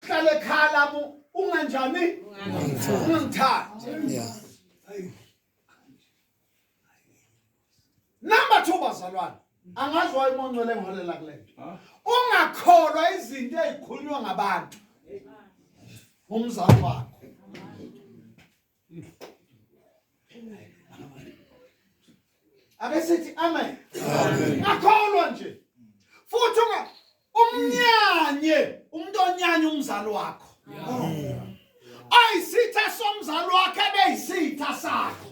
hlale khala bu unganjani ungangithandi yeah number 2 bazalwane angazi waye umoncwele ngolela kulento ah. ungakholwa izinto ezikhulunywa ngabantu umzali wakho ake sithi amen akholwa nje futhi unga umnyanye umuntu onyanya umzali wakho ayisitha somzali wakhe beyisitha sakho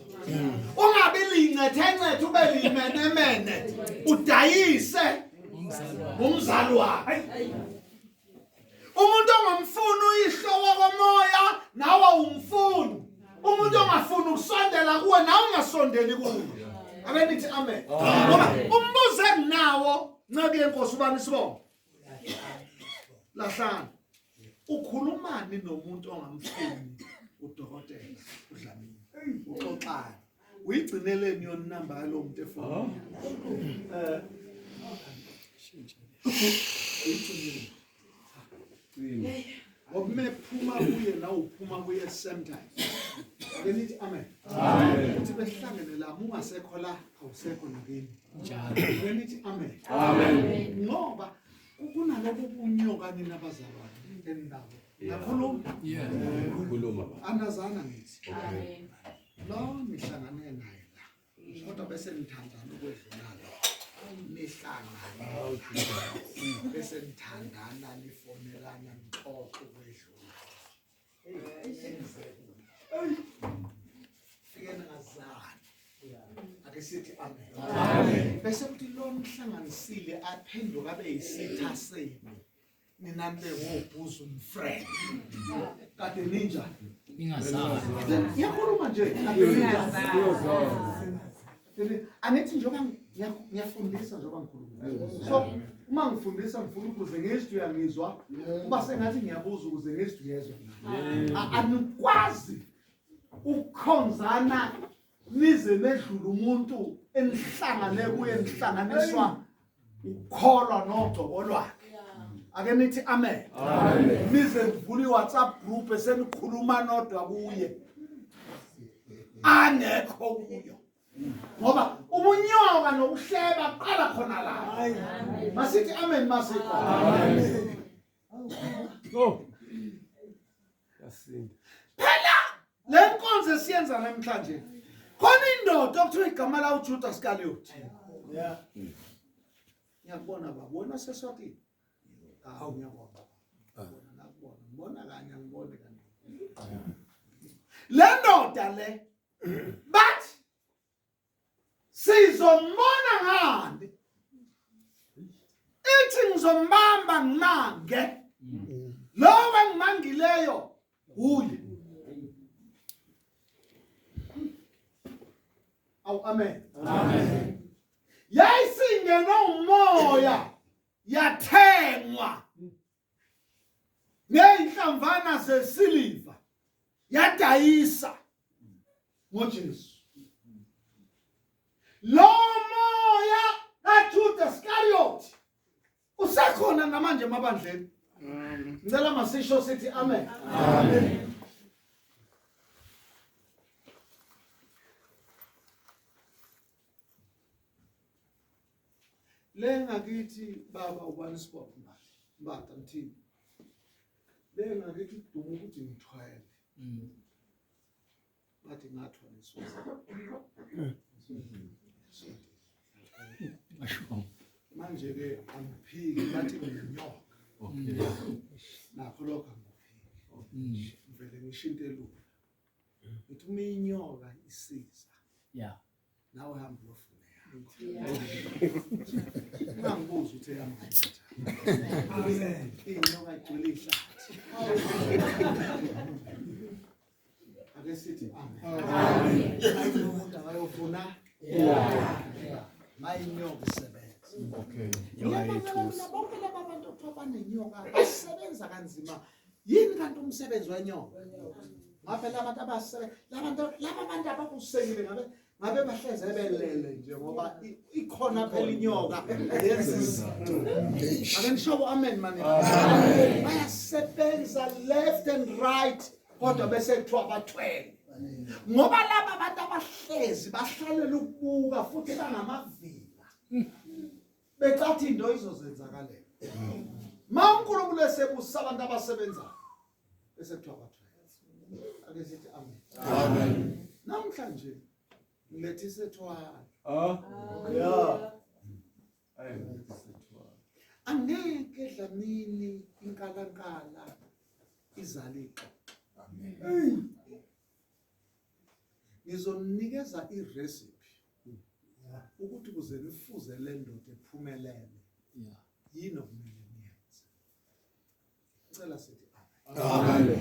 ungabi lincethe ncethe ube limenemene udayise umzali wakho umuntu ongumfuni uyihlo wakomoya nawe umfuni umuntu ongafuni ukusondela kuwe nawe ungasondeli kuwe abe nithi amen ngoba umbuzo enginawo nceke yenkosi ubani isibongo lahlana ukhulumani nomuntu ongamfuni udokotela udlamini uxoxani uyigcineleni yona inamba yalo muntu efonini eh Ngokume phuma kuye la uphuma kuye same time. Ake nithi amen. Amen. Uthi behlangene la mungasekho la awusekho nakini. Njalo. Ake nithi amen. Amen. Ngoba kunalabo kunyoka nina abazalwane endawo. Ngakho lo. Yeah. Kuloma. Andazana ngithi. Okay. lo nihlangane naye la kodwa bese nithandana ukwedlulala nihlangane bese nithandana nifonelana nixoxe ukwedlula fikeni ngazani ake sithi amen bese kuthi lo nihlanganisile aphenduka abe yisitha senu Nina nibe wobhuzu mfriend. Kade ninja. Ningazazi. Yakhuluma nje. Kade ninja. Angithi njengoba ngiyafundisa njengoba ngikhuluma. So uma ngifundisa ngifuna ukuze ngizwe uyangizwa kuba sengathi ngiyabuza ukuze ngizwe uyezwa. Anikwazi ukukhonzana nize nedlula umuntu enihlangane kuye nihlanganiswa ukukholwa nogcobo lwakhe ake nithi amen nize nivula iwhatsapp group esenikhuluma nodwa kuye angekho kuyo ngoba ubunyoka nokuhleba qala khona la masithi amen masiko amen no yasinda phela le nkonzo esiyenza namhlanje khona indoda okuthiwa igama lawo ujuda sikaliyothi ngiyakubona baba wena seswatini hawu ngiyakubona nakubona ngibona kanye angiboni kanye le ndoda le bathi sizombona ngani ithi ngizombamba ngimange lowo engimangileyo wuye awu amen amen yayisingenwe umoya yathengwa ngeyinhlamvana zesiliva yadayisa ngoJesu lo moya kaJuda Iscariot usekhona namanje emabandleni ngicela masisho sithi amen amen Le ngakithi baba ubani sibophe manje. Mbata ngithini? Le ngakithi udumo ukuthi ngithwele. Mm. Bathi ngathwa nesosa. Manje ke angiphiki bathi nginyoka. Okay. Nakho lokho angiphiki. Mm. Ngivele ngishinte lula. Ngithi uma inyoka isiza. Yeah. nawe hamba uyofuna ungangibuzi ukuthi eyamanje inyoka igcwele ihlathi ake sithi umuntu akayofuna mayinyoka isebenza bonke laba bantu okuthiwa banenyoka basebenza kanzima yini kanti umsebenzi wenyoka ngabe labantu abasele labantu laba bantu abakusekile ngabe ngabe bahleze belele nje ngoba ikhona phela inyoka lezi ake nishobo amen mani bayasebenza left and right kodwa bese kuthiwa bathwele ngoba laba bantu abahlezi bahlalela ukubuka futhi bangamavila becathi into izozenzakalela ma uNkulunkulu esebusa abantu abasebenzayo bese kuthiwa bathiwa ake sithi amen amen namhlanje ngilethe isethwala ah yeah angeke dlamini inkalankala izale ixoxo amen ngizoninikeza irecipe ukuthi kuze nifuze le ndoda ephumelele yini okumele niyenze ngicela sithi amen